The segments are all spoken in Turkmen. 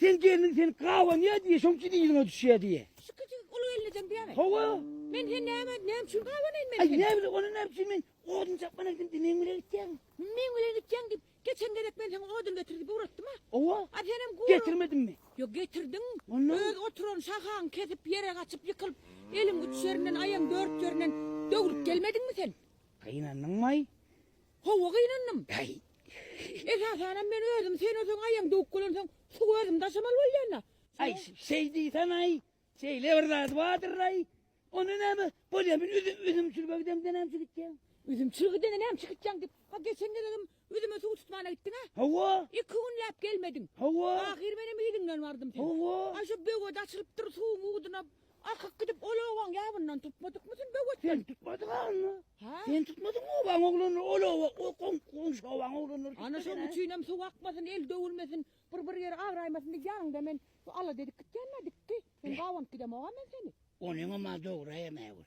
Sen gelniň seni gabanýa diýe, şoň üçin yzyňa düşýä diýe. Şu kiçijik uly gelin eden diýämi? Hawa. Men sen näme et, näme üçin gabanaýyn men seni? Aý näme bilen, ony näme üçin men odun çapman aýtdym diýip meň bilen gitýäň? Meň bilen gitýäň diýip, geçen gezek men saňa odun getir diýip ugratdym-a? Hawa. A sen hem gury. Getirmedimmi? Ýok, getirdiň. Onda? Öz oturan şahaňy kesip, ýere gaçyp ýykylyp, eliň üç ýerinden, aýagyň dört ýerinden döwlüp gelmediňmi sen? Gynandyňmaý? Hawa gynandym. Äý. Esasanam men özüm sen öseň aýaň döwüp gelensoň suwy özüm daşamaly bolýan-da. Äý şeý diýsän-aý. Şeýle bir zady bardyr-aý. Onda näme, bolýa men üzüm çürüge gidemde näme üçin gitjegin? Üzüm çürüge gidende näme üçin gitjegin diýip, ha geçen gezegem üzüme suw tutmana gitdiň-ä? Hawa. Iki günläp gelmediň. Hawa. Ahyry menem yzyňdan bardym seniň. Hawa. Aý şu böwet açylypdyr, suwuň uduny Akyp gidip ol obaň ýabyndan tutmadykmysyň böwet? Sen tutmadyň agny. Ha? Sen tutmadyň obaň oglanlar, ol oba, o kom, komşy obaň oglanlar. Ana şoň üçin hem suw akmasyn, el döwülmesin, bir bir ýeri abraýmasyn diýip ýanyňda men şu alada edip gitýän nädikki. Men gabanp gidemogam men seni. Onyňam a dogry hem äwir.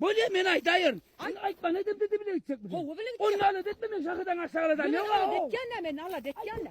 Bolýa men aýdaýyn. Sen aýtma nädip dede bile gitjek bize. Gowy bile gitjek. Ony alat etme men şahydan aşak aladan ýok-a. Alat etýän-ä men alat etýän-ä.